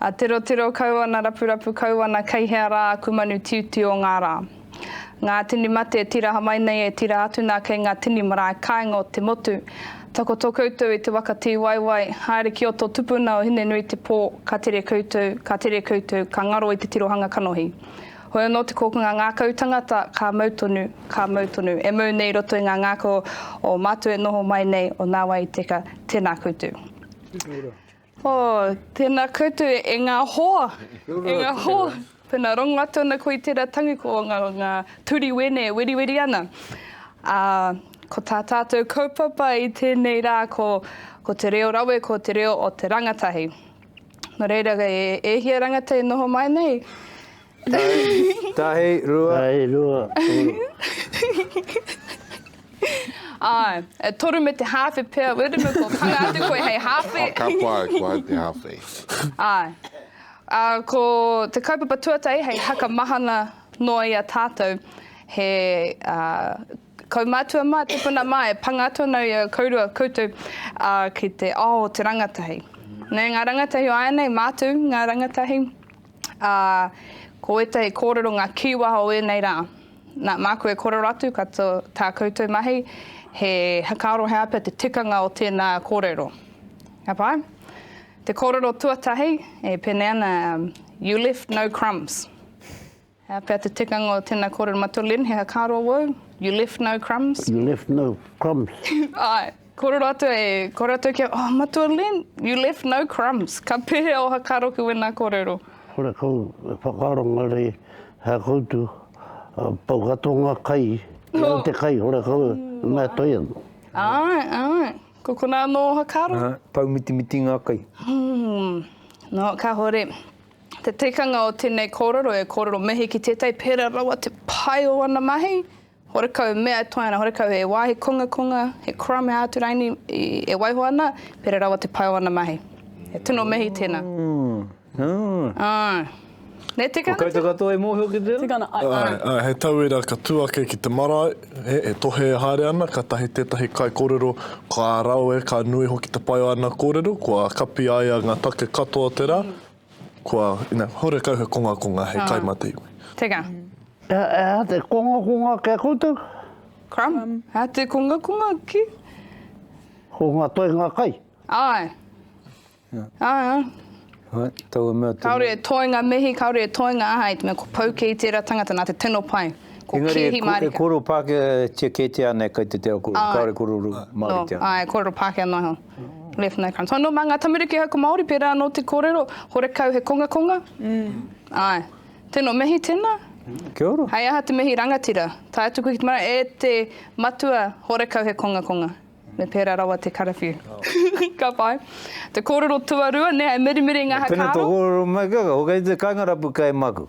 A tirotiro kau ana rapurapu kau ana kei hea rā aku manu tiutiu o ngā rā. Ngā tini mate e tiraha mai nei e tira atu nā kei ngā tini marae kāinga o te motu. Takoto koutou i te waka tīwaiwai, haere ki o tō tupuna o Hine-nui-te-pō, ka tere koutou, ka tere koutou, ka ngaro i te tirohanga kanohi. Hoi anō te kōkanga ngākau tangata, ka mau tonu, ka mau tonu. E mau nei i roto i ngā ngākau o mātou e noho mai nei, o nā wai i teka, tēnā koutou. Oh, tēnā koutou e ngā hoa, e ngā hoa. Tēnā, rongo atu ana koe i tērā tangi ko ngā, ngā turi wēne e weriweri ana. Ā, ko tā tātou kaupapa i tēnei rā ko, ko te reo rawe, ko te reo o te rangatahi. Nō reira, e, e hia rangatahi e noho mai nei, Tahi, rua. Tahi, rua, uru. Āe, e toru me te hāwhe pea, wera me kua kanga atu koe hei hāwhe. Ka pai koe te hāwhe. Āe. Ā, ko te kaupapa tuatahi hei haka mahana noa i a tātou, he kaumātua mā, tipuna mā, e panga atu ana i a kourua koutou ki te ao o te rangatahi. Nē, ngā rangatahi o āianei, mātou ngā rangatahi. Ā, ko ētahi kōrero ngā kīwaha o ēnei rā. Nā, māku e kōrero atu ka to, tā koutou mahi, he whakaaro he āpea te tikanga o tēnā kōrero. Ka pai? Te kōrero tuatahi, e pēnei ana, um, You left no crumbs. He āpea te tikanga o tēnā kōrero, Matua Lynn, he whakaaro wōu? You left no crumbs? You left no crumbs. Āe. Kore ratou e, kore ratou kia, oh Matua Len, you left no crumbs, ka pehea oha ka roki wena korero? Kore kou e whakaaro nga rei hea koutu, pau katoa nga kai, kei au te kai, kore kou e mea toi ana. Ae, ae, ko kona ano oha ka roki. Ae, pau mitimiti nga kai. Umm, no, kahore, te tikanga o tenei korero e korero mihi ki tetai pera rawa te pai o ana mahi. Horekau mea e toea ana, horekau he wāhi kongakonga, he crumb, he āturaini e waiho ana, pērā rawa te pai o ana mahi. He tino mihi tēnā. Āe. Nē, tika ana? Ko koutou katoa e mōhio ki tērā? Tika ana, āe, āe. Āe, he tauira ka tū ake ki te marae, he tohe e haere ana, kātahi tētahi kaikōrero ka rawe, ka nui hoki te pai o ana kōrero, kua kapi ai ngā take katoa o te rā, Kua, ina, horekau he kongakonga, he kai mate iwi. Teka. Ea te kongakonga kia koutou? Crumb. Ea te kongakonga ki? Ko nga toenga kai. Ae. Ae. Ae, taua mea te. Kaore e toenga mihi, kaore e toenga aha, i te mea ko pau kei tera tangata na te tino pai. Ko kehi marika. Engari e koro Pakea tia ketia nei kai te tera koro, kaore kororo Maritea. No, ae, korero Pakea noa iho. Left no crumbs. Oh, no, mā ngā tamariki hauka Māori, pērā anō te kōrero, horekau he kongakonga. Āe. Tēnō, mihi tēnā. Kia ora. Hei aha te mihi rangatira? Tae atu koe ki te marae, e te matua, horekau he kongakonga. Me pērā rawa te karawhiu. Ka pai. Te kōrero tuarua, nē, e mirimiri ngā haka aro. Pēnā tō kōrero mai, ka, ka, ko kei te kāinga rapu kei maku.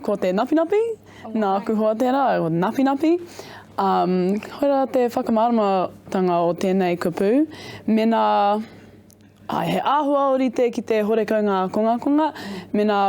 Ko te napinapi, nāku hoa tērā, napinapi. Um, koirā te whakamāramatanga o tēnei kupu, mena ai, he āhua o rite ki te horekau ngā kongakonga, mena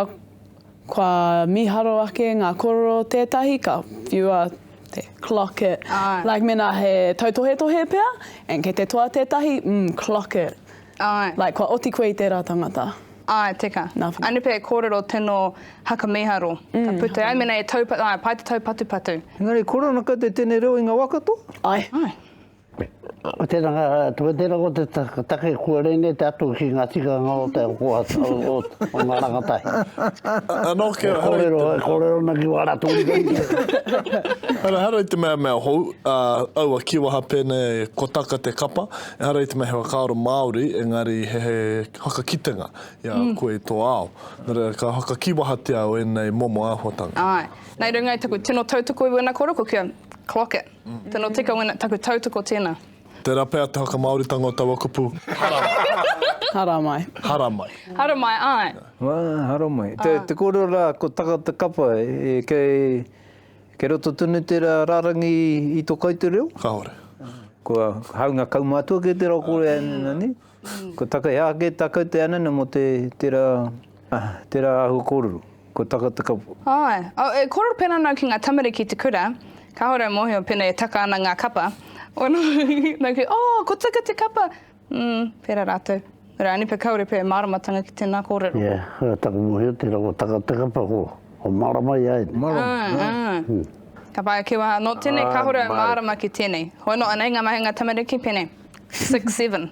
kua mīharo ake ngā kororo tētahi, ka whiua te clock it. Ai. Like mena he tautohetohe pea, and kei te toa tētahi, mm, clock it. Āe. Like, kua oti koe i tērā tangata. Āe, teka. Nā whai. Ānipe e kōrero tino haka mīharo. Mm. Ka pute ai mēnā e taupatu, āe, pai te taupatupatu. Engari, kore ana koutou tēnei reo i ngā wā katoa? Āe. Āe. Tēnā, ko tērā ko te take kua rēnei te atu ki ngā tikanga o te ako o ngā rangatahi. Anō kia haere. E kōrero, e kōrero ana ki wā rātou reo. Haere i te mea mea hou, aua kīwaha pēnei ko taka te kapa. Ehara i te mea he whakaaro Māori, engari he whakakitenga i a koe i tō ao. Nō reira, ka whakakīwahatia au ēnei momo āhuatanga. Āe. Nei runga i taku tino tautoko i wēnā kōrero, ko kia clock it. Tino tika wēnā, taku tautoko tēnā. Tērā pea te whakamāoritanga o taua kupu, haramai. Haramai. Haramai. Haramai, āe. Āe, haramai. Te kōrero rā, ko taka te kapa, kei Kei roto tonu te rārangi i tō kai te reo? Kāore. Kua hāunga kaumātua kei te reo Kōrea ēnena nei. Kua takahia ake tā kau te ānana mō te, tērā, tērā āhua kōrero. Kua taka te kapa. Āe. Oh, e kōrero pērā ana au ki ngā tamariki i te kura, kāore au mōhio pēnei e taka ana ngā kapa. Nōku, oh, ko Tuka te kapa! Mm, pera ratou. Rani pe kaore pe maramatanga ki tena korero. Yeah, taku mohio te rawa taka te kapa ko, ko marama ia ene. Marama. Ah, ah. Ka pae ke waha, no tenei ah, kahore au marama ki tenei. Hoi no anei nga mahinga tamariki pene. Six, seven.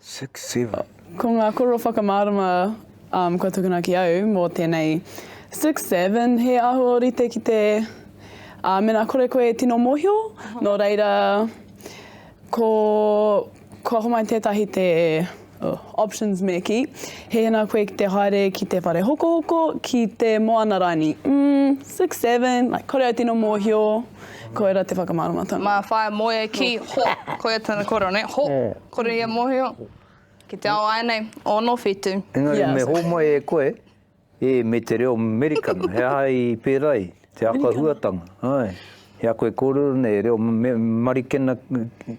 Six, seven. Ko ngā koro whakamārama um, kua tukuna ki au mō tēnei six, seven, he aho rite ki te uh, mena kore koe e tino mōhio, nō reira ko, kua homai tētahi te uh, options me ki, he hena koe ki te haere ki te whare hokohoko, ki te moana raini. Mm, six, seven, like, kore au tino mōhio, koera te whakamāramatanga. Mā whae moe ki ho, koe tana koro, ne? Ho. Yeah. Kore ia mohio ki te ao aenei o no whitu. Engari me homai e koe, e me te reo Merikana, he aha i pera ai, te akahuatanga, ae, i a koe korero nei reo Marikena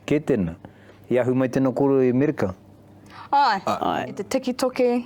ke tena, i ahu mai tena korero i Merika? Ae, i te tiki toki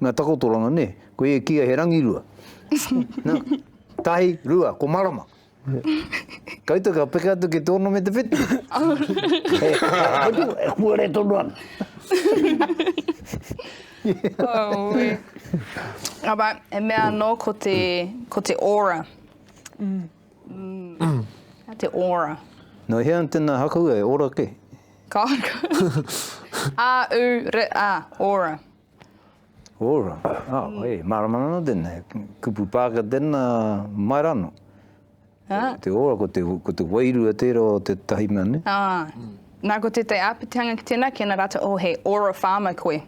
Nga takotoranga ne, koe e kia he rangirua. Na, tahi, rua, ko marama. Koutou ka peke atu ki te ono me te whitu. e kuare tonu ana. Aue. Aba, e mea anō ko te, ko te ora. Mm. Mm. Te ora. No hea tēnā hakaua e ora ke? Ka haka. A, u, re, a, ora. Ora, ahoi, marama nana tenei, kupu pāka tena, mai ra no. Ko te ora, ko te, ko te wairua tera o te tahi mea nei. Ah. Na ko te te apitihanga ki tena, ki ana rata, oh he ora farmer koe.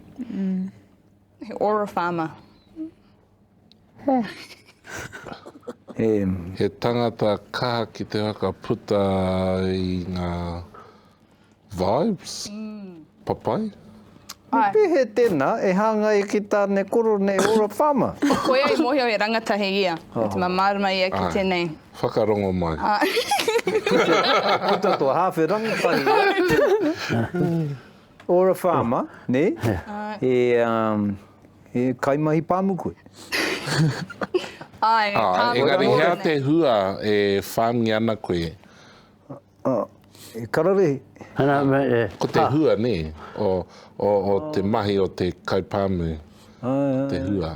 He ora farmer. He tangata kaha ki te whakaputa i ngā vibes, papai. Me pēhea tēnā e hāngai ki Tānekoro nei Ora Farmer? Koia i mōhio he rangatahi ia, me te mea mārama ia ki tēnei. Āe, whakarongo mai. Puta tō hāwhe rangatahi. Or a farmer, ne? He, um, he kaimahi pāmu koe. Ai, ah, pāmu. Engari, hea te hua e whāngi ana koe? Ah, e kararehe. E. Ko te hua, ne? O, o, o te mahi o te kaipāmu. Ah, te hua.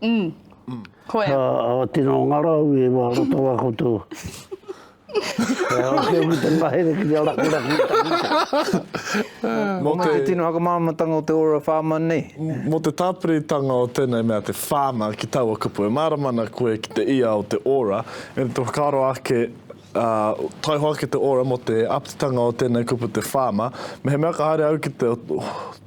Mm. Koia. Ka awatina o ngā rau e wā roto wā koutou. E awa ki au ki te mahere ki te araku raku i takuta. Mō te... Mō te tino whakamāramatanga o te ora whāma nei. Mō te tāpiritanga o tēnei mea te whāma ki taua kupu. E mārama ana koe ki te ia o te ora, e te whakaaro ake Ā, taihoa ake te ora mō te aptitanga o tēnei kupu te whāma. Mehemea ka haere au ki te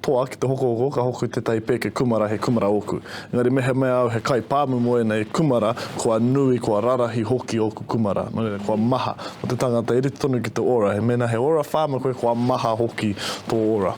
toa ki te hokohoko, ka hoki tētahi pēke kumara he kumara ōku. Engari mehemea au he kaipāmu mō ēnei kumara, kua nui, kua rarahi hoki ōku kumara. Nō reira, kua maha. Mō te tangata e rite tonu ki te ora, he mēnā he ora whāma koe, kua maha hoki tō ora.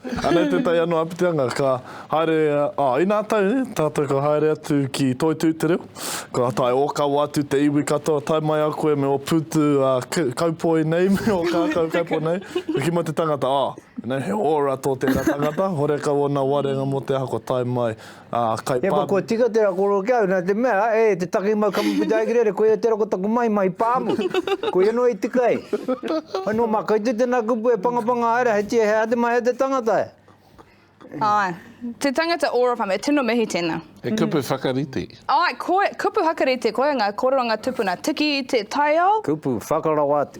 Anei te tai anō Apiteanga, ka haere, ā, inā tau nei, tātou ka haere atu ki Toi-tū-te-reo, ka tae ōkawa atu te iwi katoa, tae mai a koe me ō pūtu, ā, kaupoi nei, me ō kākau kaupoi nei, ka kimi te tangata, ā, he ora tō tērā tangata, horekau ōna warenga mō te aha kua tae mai, He koa kua tika tērā kōrero ki a au, nā te mea, e te taki mau kamupita e Kerere, koia tērā ko taku maima i pāmu. Koia noa i tika ai. Hoi nō mā, kei te tēnā kupu e pangapanga haere, hei tia, he aha te mahi a te tangata e? Āe. Te tangata ō Rawhame, e tino mihi tēnā. He kupu whakarite. Āe, koia, kupu whakarite, koia ngā kōrero a ngā tupuna tiki i te taiao. Kupu whakarawa atu.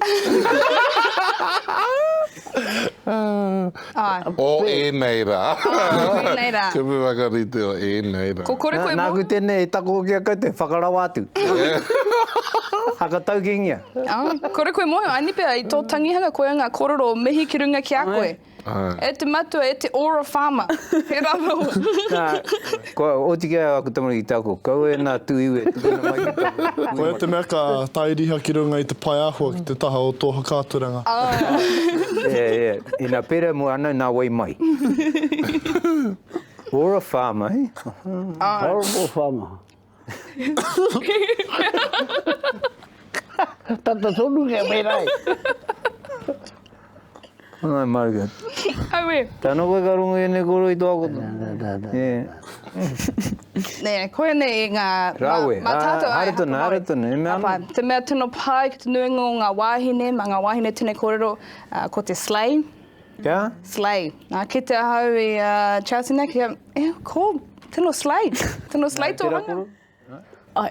O ēnei rā. O ēnei rā. Kupu whakarite o ēnei rā. Ko kore koe mō. Nāku tēnei e takohoki a koutou, whakarau atu. Haka taukingia. Kore koe mōhio, Anipea, i tō tangihanga koia ngā kōrero o mihi ki runga ki a koe. E te matua, e te ora farmer. He rawa. Kua oti kē aku tamariki te ako, kaua e nā tū iwi e tukuna mai ki taku hui matua. Koia te mea ka tae riha ki runga i te pae āhua ki te taha o tō whakaaturanga. Yeah, yeah. Ina pērā mua anō nā wai mai. Or a farmer, eh? Horrible farmer. Tata tonu kia pērā e. Angai mauri atu. Au e. Tano koe ka rongo i enei koro i toa koto. Nē, koinei i ngā... Rawe. Mā tātou ai, hapa mauri. Haere tonu, haere tonu. Hapa. Te mea tino pai ki te nuinga o ngā wāhine, mā ngā wāhine tēnei kōrero, ko te slay. Kia? Slay. Nā, kite ahau i Chelsea nei, kia, e, ko, tino slay. Tino slay tō hanga. Tērā koro? Ai.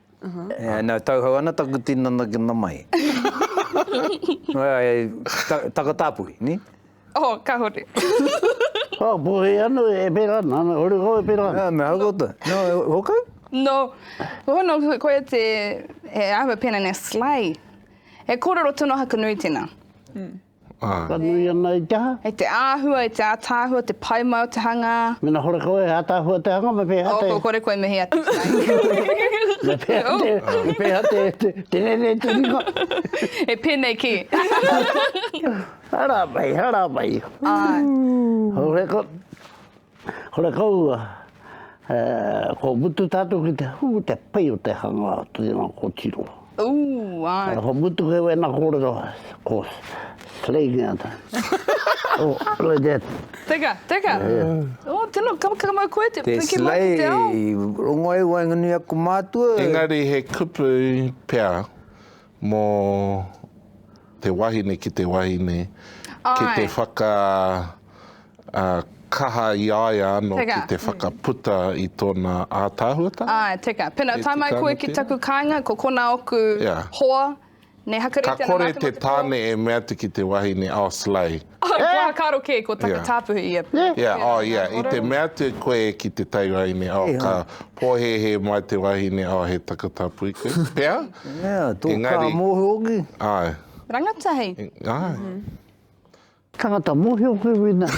Ā, nau tauhou ana taku tinana ki na mai. Taka tāpui, ni? Oh, kahore. Ā, puhi ana, e pera ana, ana, hore kau e pera ana. Ā, me hau koutou. No, hokau? No, oh no, koia te, he, I have a pen and a sleigh. He kōrero tonu a Hakanui tēnā. Ka nui ana i te aha? I te āhua, i te ātaahua, te pai mai o te hanga. Mēnā kore koe he ātaahua o te hanga, me pēhea te. Ko kore koe me hea te whai. Me pēhea te, me pēhea te, te, te rere te ringa. E pēnei ki. Hara mai, hara mai. Āe. Hau he ko. Horekau ko mutu tatou ki te hu te pai o te hanga ki nga kotiro. Ooh ai. Ko mutu kei wena korero ko slay nge ata. Ooh like that. Teka, teka. Ooh tino kamakaka mau koe te piki mai ki te ao. Te slay, rongo ai waenganui aku matua. Engari he kupu pea. Mō te wahine ki te wahine, ki te whakakaha i a ia anō ki te whakaputa i tōna ātaahuatanga. Āe, teka. Pēnā, tae mai koe ki taku kāinga, ko konā oku hoa, nē, hakarite ana mātou mō te pō. Ka kore te tāne e mea atu ki te wahine, oh, slay. Kua karo kē, kua takatāpuhi ia. Yeah, oh yeah, i te mea atu koe ki te taiwahine, oh, ka pōhēhē mai te wahine, oh, he takatāpuhi koe, pea? Yeah, tō kā mōhio hoki. Ai. Rangatahi. Ai. Tangata mōhio koe wēnā.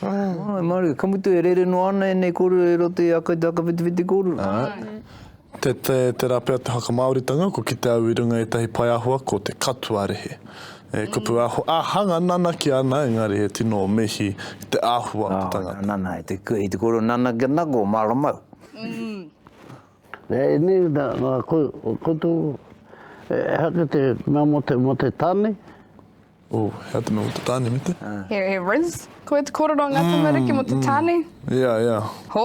Āe marie, ka mutu e rere noa ana ēnei kōrero i roto i a koutou whakawhitiwhiti kōrero. Āe, tērā pea te whakamāoritanga, ko kite au i runga i ētahi pae āhua ko te katoa rehe. He kupu āhanga nanaki ana engari he tino mihi ki te āhua o te tangata. Nana, i te kōrero nana kia nako o māramau. Āe, ēnei nā koutou, he aha te mea mō te tāne? Oh, hea te mea mo te tane, me te? He, he Riz? Ko e te korero nga tamariki mo te tane? Ia, ia. Ho.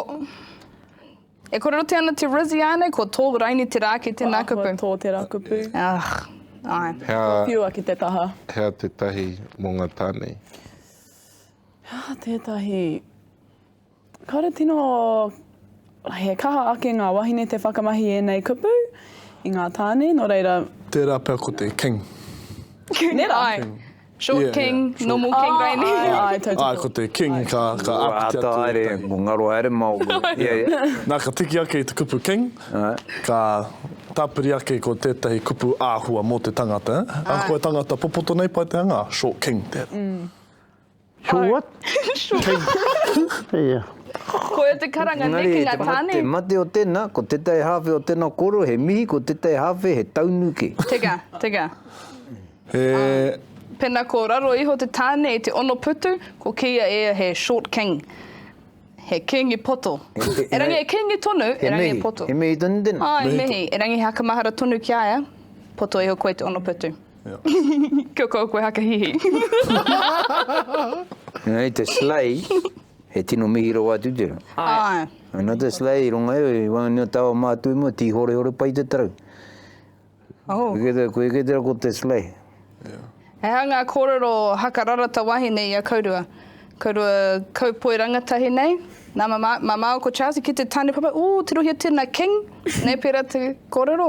E korerotia ana te Riz i anei, ko to raini te ra ki te na kupu. Ko to te ra kupu. Ah, ai. Hea. Ko piua ki te taha. Hea tetahi mo nga tane? Hea tetahi Kāre tino he kaha ake ngā wahine te whakamahi ēnei kupu i ngā tāne, nō reira. Tērā pea ko te king. King, ai. King. Short yeah, king, yeah. Short. normal king, ai ni. Ai, ai, tau Ai, ko te king, ai. ka, ka Ua, apiti atu. Haere, mo ngaro haere mao. yeah, yeah. Nā, ka tiki ake i te kupu king, ai. ka tāpiri ake ko tētahi kupu āhua mō te tangata. Ai. Ako e tangata popoto nei, pai te hanga, short king. Mm. Sure what? Koia te karanga nei ki nga tane. Engari te mate o tena, ko tetae hawhe o tena koro he mihi, ko tetae hawhe he taunu ke. Teka, teka. He. Pena ko raro iho te tane i te ono putu, ko kiia ia he short king. He kingi poto. Erangi e kingi tonu, erangi e poto. He mihi, he mihi tonu tena. Ae, mihi. Erangi he hakamahara tonu ki a ia, poto iho koe te ono putu. Kia kaua koe haka hihi. Nei te slay, he tino mihi rawa atu te. Ai. Ana te slay, ronga e, i wangani o tawa mātu i mua, tī hore hore pai te tarau. Oh. Koe kētera, koe kētera ko te slay. He aha ngā kōrero haka rarata wahine i a Kaurua? Kaurua kaupoi rangatahi nei. Nā, ma, ma māua ko Charles i kite tāne papa, ū, tirohia tēnā king, nei pērā te kōrero.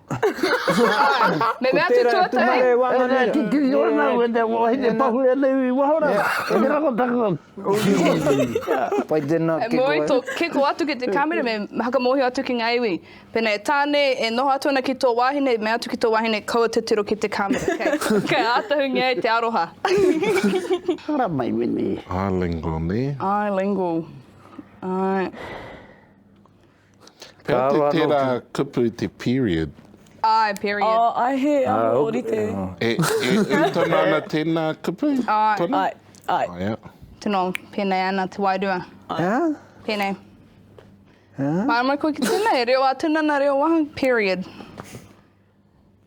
Me mea atu tua tahi. He mea kikī i ora nau, he mea wahine pahure nei i waho rā. He mea ko taku. Pai tēnā kiko. He moe tō kiko atu ki te kāmera, me whakamōhio atu ki ngā iwi. Pēnā e Tāne, e noho atu ana ki tō wāhine, i mea atu ki tō wāhine, kaua titiro ki te kāmera, kei. Kei ātahungia ai te aroha. Ara mai menei. Ālingo nē. Ālingo. Āe. Pea te tera kupu te period. Ae, period. Oh, ae he aho orite. E, e, e tona ana tena kupu? Ae. Tona? Ae, ae. Oh, yeah. Tino penei ana te wairua. Ae. Penei. Ae. Maramai koe ki tena, e reo a tuna na reo waha, period.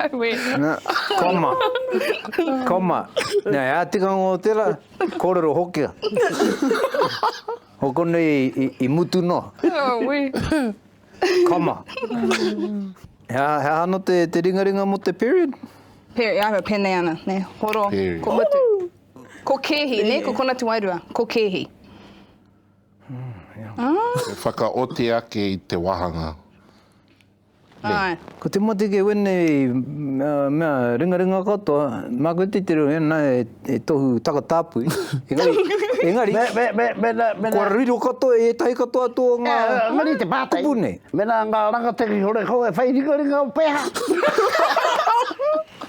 Auē. Na, koma. Koma. Nā, e ā-tikanga o tērā, kōrero Hokea. Hokona i, i, i mutu noa. Auē. Koma. He aha, he aha anō te, te ringaringa mō te period? Peri, ahua, pēnei ana, ne, horo, Period. ko mutu. Ko kēhi, ne, ko kona tuairua, ko kēhi. E whakaoti ake i te wāhanga. Nei. Ko te mate kei wēnei mea ringaringa katoa, māku e titiro i ana he tohu takatāpui, engari, kua riro katoa i ētahi katoa atu o ngā kupu nei. Mēnā ngā rangatira i hore kau e whai ringaringa au pēhā?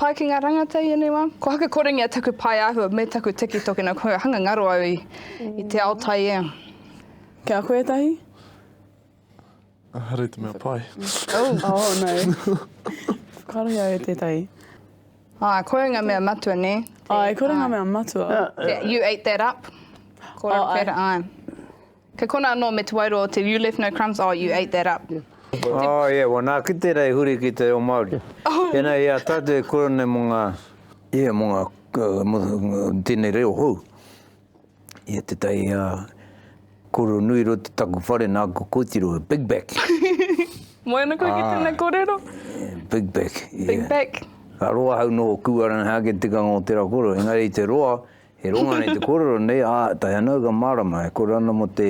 Pai ki ngā rangata i ēnei wā. Ko haku korengia taku pae āhua me taku tiki toki nā kua hanga ngaro au i te ao taiea. Ki a koe ētahi? Ahara i te mea pai. Oh no. Kāre au e tētahi. Āe, koia ngā mea matua, nē? Āe, koia ngā mea matua. You ate that up. Kōrero pērā, āe. Kei konā anō me te wairoa o te You left no crumbs, oh, you ate that up. Oh, yeah, well, nā, ki tērā i huri ki te reo Māori. Tēnā i a tātou e kura nei mō ngā, yeah, mō ngā, mō tēnei reo hou. Ia te tai a Koro Nui Roto taku whare nā ko kōtiro, Big Back. Moe ana koe ki tēnei kōrero. Big Back, yeah. Big Back. Ka roa hau nō kūara nā hake tikanga o te rakoro, engari te roa, He ronga nei te kōrero nei, ā, tae ana au ka mārama, e kore ana mō te,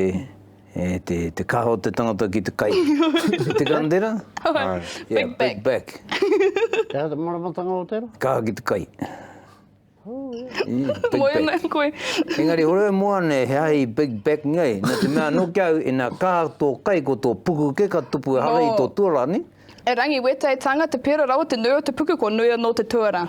e, te, te kaha o te tangata ki te kai. Ki te kandera? Āe. Yeah, big back. Big back. Te aha te māramatanga o te rā? Kaha ki te kai. Oh, yeah. Big back. Moe ana koe. Engari, hore au moa nei, he aha i big back nei? Nō te mea, nō ki au, ina kaha tō kai ko tō puku kē ka tupu ehara i tō tuarā, nē? E Rangiwetai, tānga te pērā rawa te nui o te puku, kua nui anō te tuarā.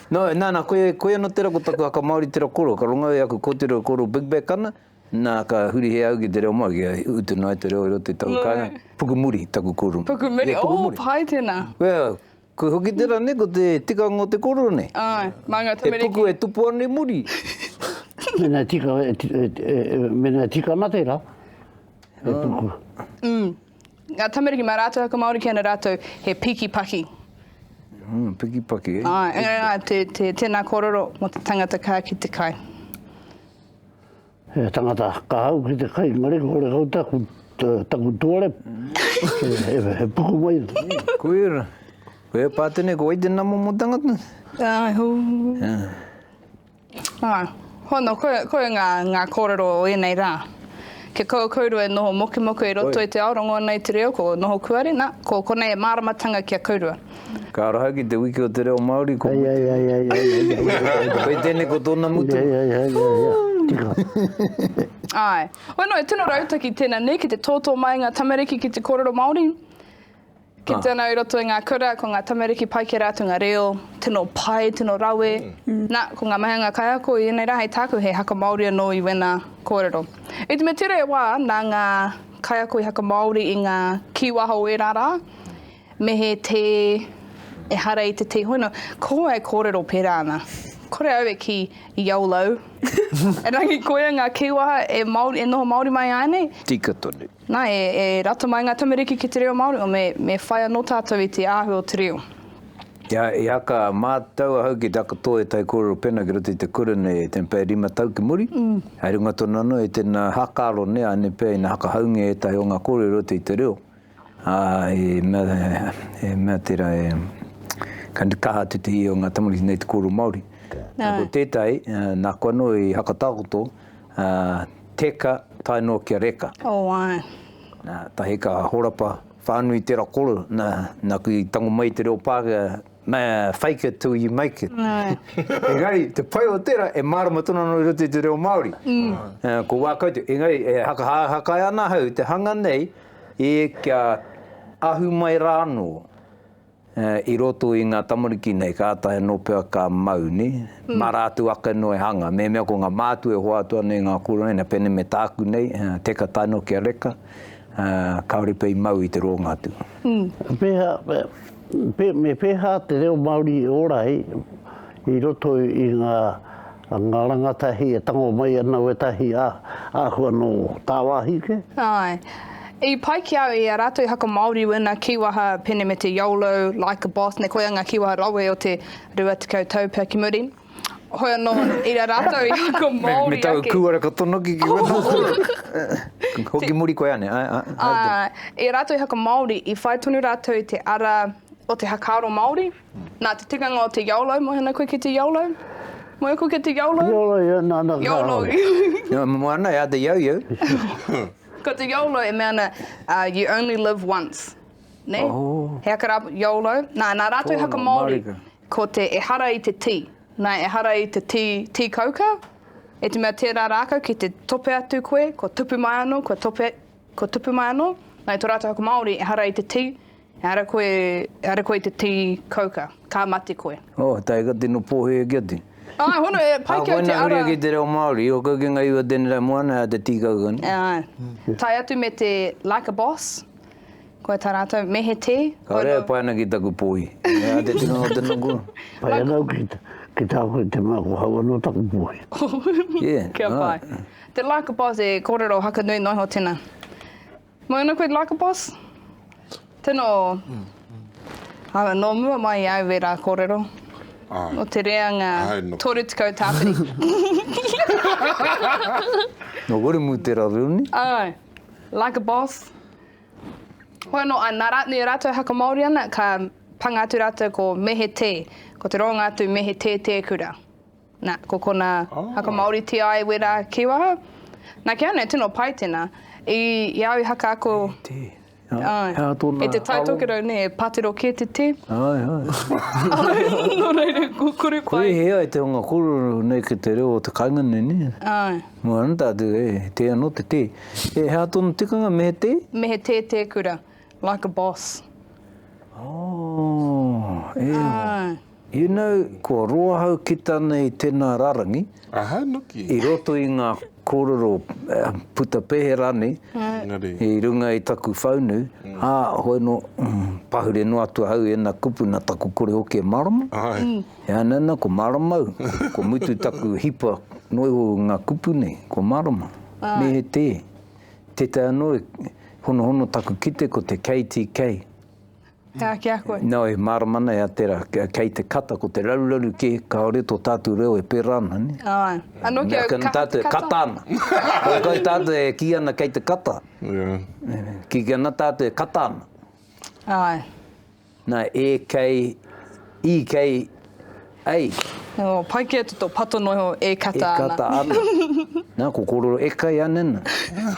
No, na, na, koia, koia no tera ko taku haka Maori tera koro, ka rongo e aku kotiro koro Big Back ana, na, ka huri he au ki te reo Maori, kia utu noa te reo i roto i taku kainga, Pukumuri taku koro. Pukumuri, oh, Pukumuri. pai tena. Well, koe hoki tera ne, ko te tikanga o te koro ne. Aye, ma nga tamariki. He puku e tupu ana i muri. Mena tika, mena tika ana tera, he puku. Mm. Ngā tamariki, mā rātou whakamāori ki ana rātou he piki paki. Mm, piki paki, eh? Ai, engari ngā, te, te, tēnā kōrero mō te tangata kā ki te kai. He tangata kā hau ki te kai, ngare kore kau taku, taku tuare. he, he, he puku mai. Kuira. Kuira pātene, ko wai te namo mō tangata? Ai, hū. Yeah. Ā, hono, koia, koia ngā, ngā kōrero o ēnei rā. Kia kaua kōrua e noho mokumoku i roto i te ao rongōna i te reo, ko noho kuare, nā, ko konei e māramatanga ki a kōrua. Ka raha ki te wiki o te reo Māori ko Mutunga. Kei tēnei ko tōna Mutunga. Āe. Hono, e tino rautaki tēnā nei ki te tōtō mai ngā tamariki ki te kōrero Māori. Kite ana i roto i ngā kura, ko ngā tamariki pai kē rātou ngā reo, tino pai, tino rawe. Nā, ko ngā mahi a ngā kaiako i ēnei rā hei tāku he haka Māori anō i wēnā kōrero. I te mea tere e wā, nā ngā kaiako i haka Māori i ngā kīwaha o ērā rā, me he tē ehara i te tē hono, ko wai kōrero pērā ana. Kore au e kī, Yolo! Erangi koia ngā kīwaha e Māori, e noho Māori mai āe nei? Tika tonu. Na, e rata mai nga tamariki ki te reo Maori, o me whai ano tatou i te ahu o te reo. I haka matou ahau ki takoto e tai korero pena ki roto i te kura nei e ten pea e rima tau ki muri, hai runga tonu ano i tena haka aro nei ane pea ina haka haungia etahi o nga korero i roto i te reo, a e mea e mea tera e ka kaha atu te ii o nga tamariki nei te korero Maori. Na, ko tetahi, nako ano i haka takoto. Ā, teka, tae noa ki a Reka. O, āe. Nā, tahi ka horapa whānui tera koro, nā, nāku i tango mai i te reo Pākehā, ma, fake it till you make it. Āe. Engari, te pai o tera, e mārama tonu ana i roto i te reo Māori. Ā, ko wā koutou, engari, e hakahakai ana ahau i te hanga nei, e, kia ahu mai rā anō. I roto i ngā tamariki nei, kātahi anō pea ka mau, nē? Mā rātou ake anō e hanga. Mehemea ko ngā mātua e hoatu ana i ngā kōrero nei, nā, pēnei me tāku nei, teka tae noa ki a Reka, kāore pea i mau i te rōnga atu. Pēhea, me pēhea te reo Māori i ora ai? I roto i ngā ngā rangatahi e tango mai ana wētahi āhua nō tāwāhi kē? Āe. I pai ki au i a rātou i whakamāori ēnā kīwaha pēnei me te yolo, like a boss, nei koia ngā kīwaha rawe o te rua tekau tau pea ki muri. Hoi anō, i a rātou i whakamāori ake. Me taku kūara ka tonoki ki wēnā. Hoki muri koe āne, āe, āe. Āe. I a rātou i whakamāori, i whai tonu rātou i te ara o te hakaaro Māori. Nā te tikanga o te yolo, moe ana koe ki te yolo, moe ako ki te yolo. Yolo, ia, nā, nā, nā. Yolo. Ia, moe ana, ia, te yo, yo. Ko te yolo e mea ana, uh, you only live once. Ne? Oh. He aka rā, yolo. Nā, nā rātou haka Māori, ko te ehara i te tī. Nā, ehara i te tī, tī kauka, e te mea tērā rākau ki te tope atu koe, kua tupu mai anō, kua tope, kua tupu mai anō. Nā, i tō rātou haka Māori, ehara i te tī, Ehara koe, ehara koe te tī kauka, ka mate koe. Oh, tae ka tino pōhēhē kia te. Āe, hono, e pai ki au te ara. Āe, koina huri ki te reo Māori, o kau ki ngā iwi o tēnei rā moana, he aha te tī kauka nei? Āe. Tae atu me te like a boss, koe tā rātou, me he tē. Ka rewa e pai ana ki taku pōhī. He aha te tikanga o te nukua? Pai ana au ki tā koe te mea ko hau anō taku pōhī. Yeah, right. Kia pai. Te like a boss e kōrero hakanui noa iho tēnā. Mai ana koe Lycopos? Tino Ara, nō mua mai i au ērā kōrero. Ai. Nō te reanga 30 tāpiri. Nō Wiremu te raruni. Ai. Lycopos. Hoi anō, ā, nā rātou, rātou e whakamāori ana, ka panga atu rātou ko Mehe Tē, ko te roanga atu Mehe Tē Tēkura. Na, ko kona haka Maori Te Ae Wera ki waha. Na, ki au nei, tino pai tena. I, i au i haka ako. He te. Ai. Hea tona. He te taitokerau nei, e patero ke te te. Ai, ai. No reira, ko kore pai. Kore he ai te hunga korero nei ki te reo o te kainga nei, ne? Ai. No ana tatu, e, he te ano te te. E, hea tona tikanga, me he te? Me he te te kura, like a boss. Oh, e. Ai. You know, kua roa hau kita nei tena rarangi i roto i nga korero puta pehe ranei i runga i taku whaunu, a, hoi no, pahure noa atu ahau i ena kupu na taku kore hoki e marama, e ana ana ko marama au, ko mutu taku hipa no iho i nga kupu nei, ko marama, me he te, tetae ano e honohono taku kite ko te KTK. He aha ki a koe? Nau, he mārama nei a tera, kei te kata, ko te raruraru kē, kāore tō tātou reo e pērā ana, nē? Āe. Anō kia kaha te kata. Mea tātou e kata ana. Kai, kai tātou e kī ana kei te kata. Kī kī ana tātou e kata ana. Āe. Nā, e kei, i kei, Ei. Oh, pai ki a tu to pato noho e kata ana. E kata ana. Na, ko kororo e kai ana na.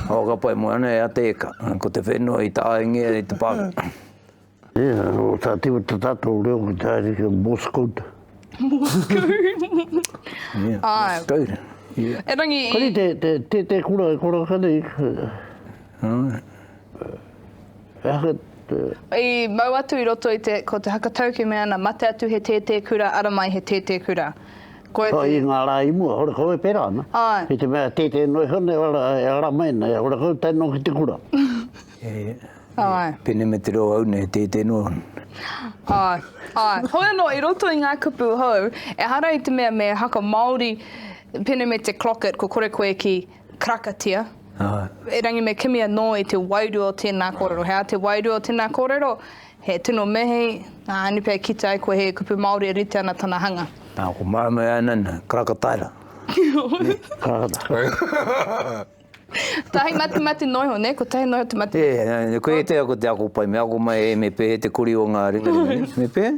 Awa ka pai mo ana e a te eka. Ko te whenua i ta ainge e te paro. Ia, o ta te wata tato o reo ki ta ari ke Morse code. Morse code. Ia, Morse code. Ia. E rangi i. Kari te, te, te, te kura e kura kare. Ia. He aha te. I mau atu i roto i te, ko te hakatauki e mea ana, mate atu he tētē kura, ara mai he tētē kura. Koia te. I ngā rā i mua, hore kau e pērā ana. Āe. I te mea, tētē noa iho nei, ara, e ara mai ana, e hore kau tae noa ki te kura. Āe. Pēnei me te reo au nei, he tētē noa ana. Āe, āe. Hoi anō, i roto i ngā kupu hou, ehara i te mea me hakamāori, pēnei me te clock it, ko kore koe ki. Karakatia. Erangi me kimi anō i te wairua o tēnā kōrero. He aha te wairua o tēnā kōrero? He tino mihi, ā, anei pea e kitea ai koe he kupu Māori e rite ana tana hanga. Ā, ko māmā e ai nei, nei, karakataira. Karakataira. Tahi matemate noiho, nē? Ko tahi noiho te matemate. Ē, koe e tea ko te ako pai, me ako mai e me pēhea te kori o ngā ringaringa, me pēhea?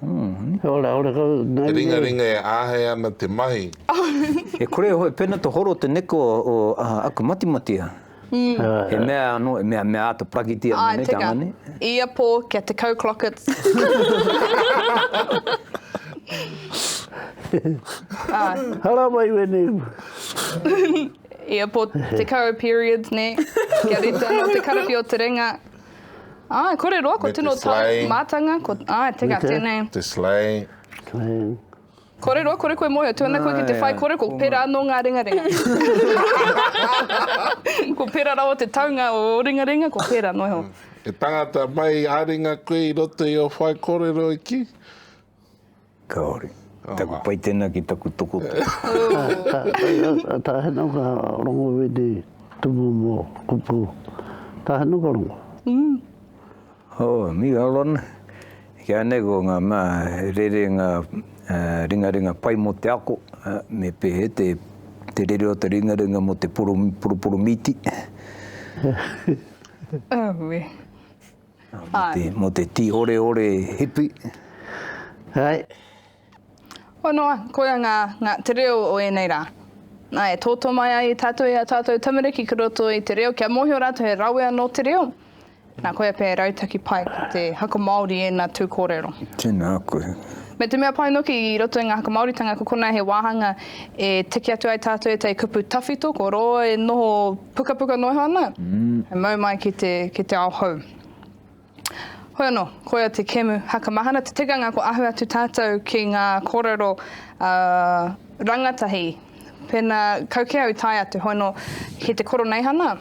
Te ringaringa e āhei ana te mahi. E kore e hoe pena te horo te neko o aku matimatea. He mea ano, he mea mea ata pakitia me nei te anga nei. Ae teka, ia po kia te kau clockets. Haramai wenei u. Ia po te kau periods nei, kia rite ano te karapi o te ringa. Āe, kore roa, ko tino tau mātanga, ko, āe, teka, tēnei. Te slay. Kore roa, kore koe mōhio, tuana koe ki te whai kore, ko pera anō ngā ringaringa. Ko pera rawa te taunga o ō ringaringa, ko pera noho. He tangata mai ā-ringa koe i roto i ō whai kōrero e kī? Kāore. Taku pai tēnā ki taku tokotoru. Tāhena ka rongo wēnei tumu mō kupu. Tāhena ka rongo. Oh, me Alan. Kia nei ko ngā mea rerenga ringaringa pai mō te ako, me pēhē te rere o te ringaringa mō te poroporomiiti. Auē. Mo te ti ore ore hipi. Hai. Hoa noa, koia nga te reo o enei ra. Nae, toto mai ai tatou e a tatou tamariki ki roto i te reo kia mohio ratou he rawe ano te reo. Na koia pea e rautaki pai ko te haka Maori ena tu korero. Tena koe. Me te mea pai noki i roto i nga haka Maoritanga ko kona he wahanga e tiki atu ai tatou etai kupu tawhito ko roa e noho Pukapuka noho ana, he mau mai ki te, ki te ao hou. Hoi anō, koia te kemu haka mahana, te tikanga ko ahu atu tātou ki ngā kōrero a rangatahi. Pēnā kau kē au i tae atu, hoi anō, ki te koroneihana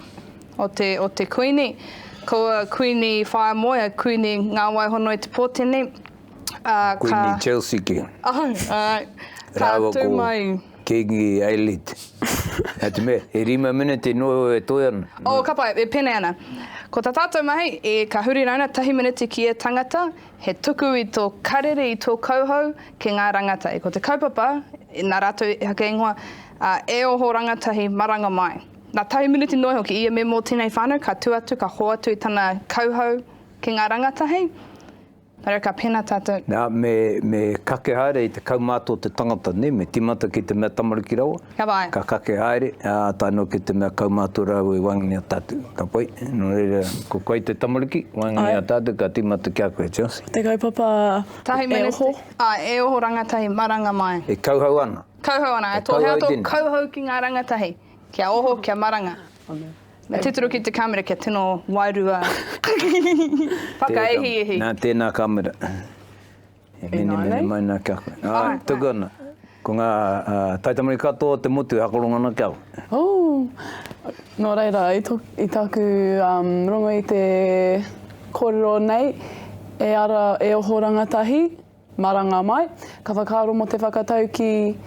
o te, o te Kuini, ko Kuini Wharemoea, Kuini Ngāwaihono i te Pōtene, ā, ka. Kuini Chelsea kē. Ahau, āe. Rāua ko. Ka tū mai. Kingi Ailid. Nā te mea, he rima miniti noa iho e toe ana. Oh, ka pai, e pēnei ana. Ko tā tātou mahi, e, ka huri rauna tahi miniti ki ia tangata, he tuku i tō karere, i tō kauhau ki ngā rāngatai. Ko te kaupapa, nā rātou e haka ingoa, ā, e oho rangatahi maranga mai. Nā, tahi miniti noa iho ki ia memo o tēnei whānau, ka tū atu, ka hoatu i tana kauhau ki ngā rangatahi. Nōreira ka pēnā tātou. Nā, me, me kake haere i te kaumātua o te tangata, nē, me tīmata ki te mea tamariki rawa. Kia pai. Ka kake haere, ā, tae noa ki te mea kaumātua rāua i waenganui i a tātou. Ka pai. Nō reira, ko koe te tamariki, waenganui i a tātou, ka tīmata ki a koe, Chelsea. Te kaupapa e oho. Āe, e oho rangatahi maranga mai. E kauhau ana. Kauhau ana, e tōhea tō kauhau ki ngā rangatahi, kia oho, kia maranga. Me tūturu ki te kamera kia tino wairua whakaihiihi. Nā, tēnā kamera. E mene mene mai nā kia koe. Nā, tuku ana. Ko ngā taitamariki katoa o te motu e akoranga ana ki a koe. Ū, nō reira, i tāku rongo i te kōrero nei, e ara, e oho rangatahi. Maranga mai, ka whakaaro mo te whakatau ki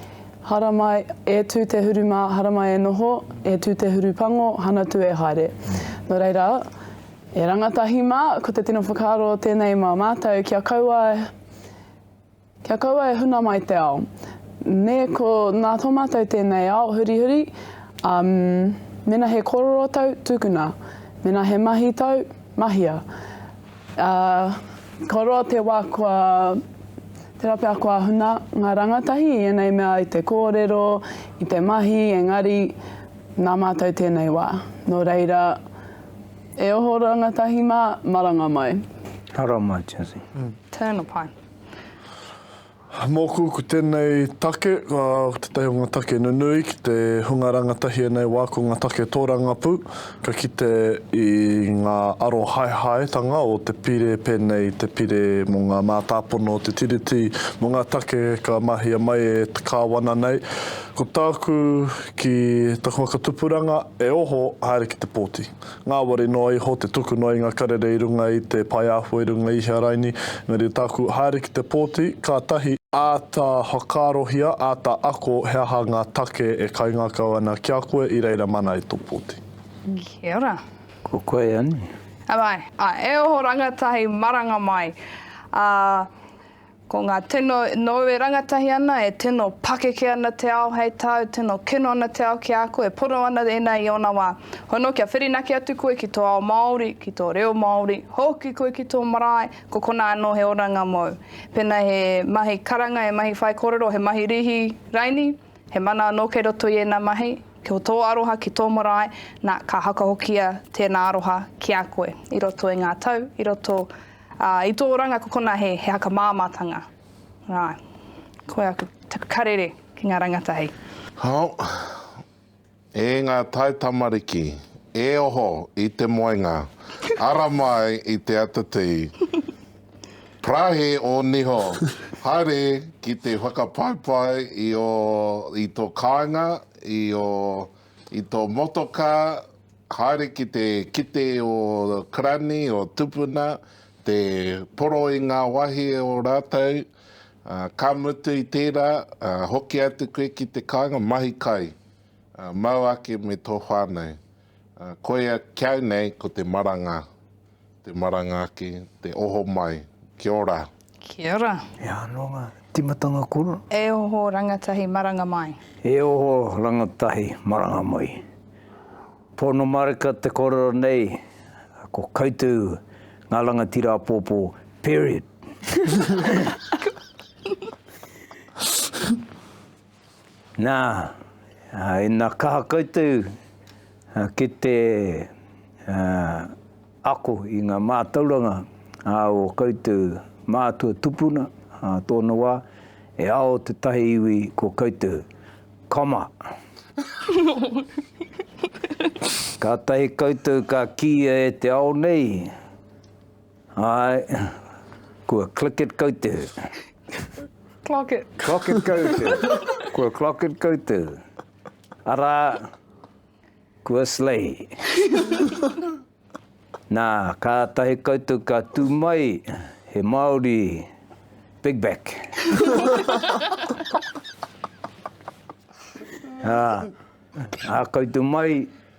Haramai e tu te huru ma Haramai e noho, e tu te huru pango, hana tu e haere. No reira, e rangatahi ma, ko te tino whakaaro tenei ma matou, kia kaua kia kaua e huna mai te ao. Ne ko na to matou tenei ao hurihuri, um, mena he kororo tau, tukuna. Mena he mahi tau, mahia. Ā, kua roa te wā kua tērā pea kua huna ngā rangatahi i ēnei mea i te kōrero, i te mahi, engari nā mātou tēnei wā. Nō reira, e oho rangatahi mā, maranga mai. Haramai, Jazzy. Turn the pine. Mōku, ko tēnei take, ko tētahi o ngā take nunui ki te hunga rangatahia nei wā, ko ngā take tōrangapū, ka kite i ngā arohaehaetanga o te pire, pēnei i te pire mō ngā mātāpono o te Tiriti, mō ngā take ka mahia mai e te Kāwana nei. Ko tāku, ki taku whakatupuranga, e oho haere ki te pōti. Ngāwari noa iho te tuku noa i ngā karere i runga i te pae āhua i runga i hea raini, engari tāku haere ki te pōti, kātahi, āta whakaarohia, āta ako he aha ngā take e kaingākau ana ki a koe i reira mana i tō pōti. Kia ora. Ko koe anei. Am I? Ā, e oho rangatahi maranga mai, ā, Ko ngā tino nou e rangatahi ana, e tino pakeke ana te ao hei tāu, tino kino ana te ao ki a koe, pono ana ēnā i ōna wā. Hono kia whirinaki atu koe ki tō ao Māori, ki tō reo Māori, hoki koe ki tō marae, ko konā anō he oranga mōu. Pēnā he mahi karanga, he mahi whaikōrero, he mahi rīhi raini, he mana anō kei roto i ēnā mahi, ko tō aroha ki tō marae, nā, ka hakahokia tēnā aroha ki a koe i roto i ngā tau, i roto Ā, i tō ranga ko konā he, he haka māmātanga. Ā, koia aku, taku karere ki ngā rangatahi. Hau, e ngā taitamariki, e oho i te moenga, ara mai i te atatī. Parahi ō niho, haere ki te whakapaipai i ō, i tō kāinga, i ō. I tō motokā, haere ki te kite o Karani, o Tupuna, te poro i ngā wahie o rātou, ka mutu i tērā, hoki atu koe ki te kāinga, mahi kai, mau ake me tō whānau. Koia kiau nei ko te maranga. Te maranga ake, te oho mai. Kia ora. Kia ora. E ano nga timatanga kura. E oho rangatahi maranga mai. E oho rangatahi maranga mai. Pono marika te korero nei ko koutou nga rangatira apopo period. Nā, ina kaha koutou ki te ako i ngā mātauranga a ō koutou mātua tupuna ā tōna wā, e ao tētahi iwi ko koutou. Kama! Kātahi koutou ka kīia e te ao nei, Ae, kua click it kau te hu. Clock it. Clock it kau te hu. Kua clock it kau te hu. Arā, kua slay. Nā, kātahi koutou ka tū mai he Māori big back. Ā, ā koutou mai,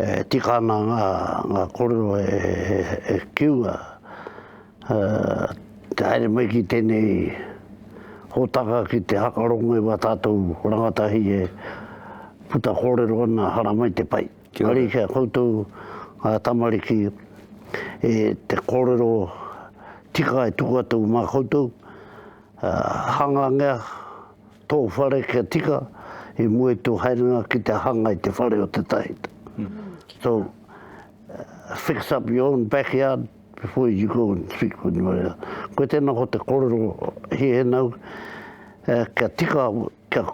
E tika ana ngā kōrero e kiunga te haere mai ki tēnei hōtaka ki te hakarongo i wā tātou rangatahi e puta kōrero ana haramai te pai. Engari ki a koutou ngā tamariki e te kōrero tika e tuku atu mā koutou, hangangea, Tō whare kia tika i mua i tō haerenga ki te hanga i te whare o te tahita. So, fix up your own backyard before you go and speak with anybody else. Koe tēnā ko te kōrero he he nau, eh, kia tika, kia,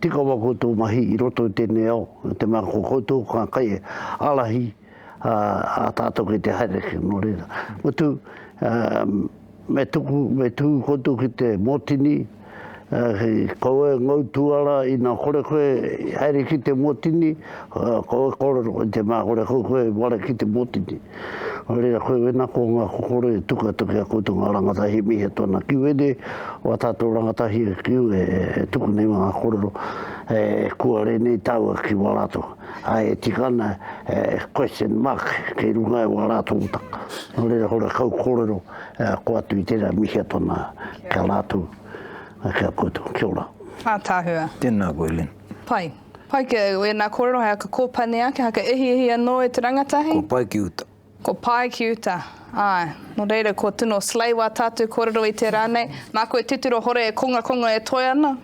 tika wa koutou mahi i roto i tēnei ao, te mea ko koutou ka kai e alahi a, a tātou ki te haere ki nō reira. Mutu, um, Me tuku, me tuku koutou ki te motini, kaua e ngau tuara ina kore koe e haere ki te motini, kaua e korero i te mea kore koe koe e whare ki te motini. Nō reira koe wena ko nga kokore e tuku atu ki a koutou nga rangatahi he mihi atu ana ki wene o a tatou rangatahi e kiu e tuku nei ma nga korero e kuare nei taua ki wa ratou. Ā, e tika ana he question mark kei runga i wā rātou taka. Nō reira, ko ora kau kōrero koe atu i tērā, mihia tonu kia rātou, kia koutou. Kia ora. Ātaahua. Tēnā koe, Lynn. Pai. Pai ki au, ēnā kōrero hei haka kōpani ake, haka ehihi anō e te rangatahi. Kua pai ki uta. Ko Pae ki uta. Āe. Nō reira, kua tino slay wā tātou kōrero i tērā nei. Māku e titiro hore e kongakonga e toe ana.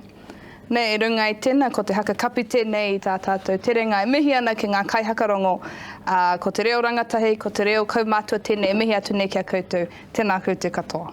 Nē, i runga i tēnā, ko te haka kapi tēnei i tā tātou terenga e mihi ana ki ngā kaihakarongo, ā, ko te reo rangatahi, ko te reo kaumātua tēnei e mihi atu nei ki a koutou. Tēnā koutou katoa.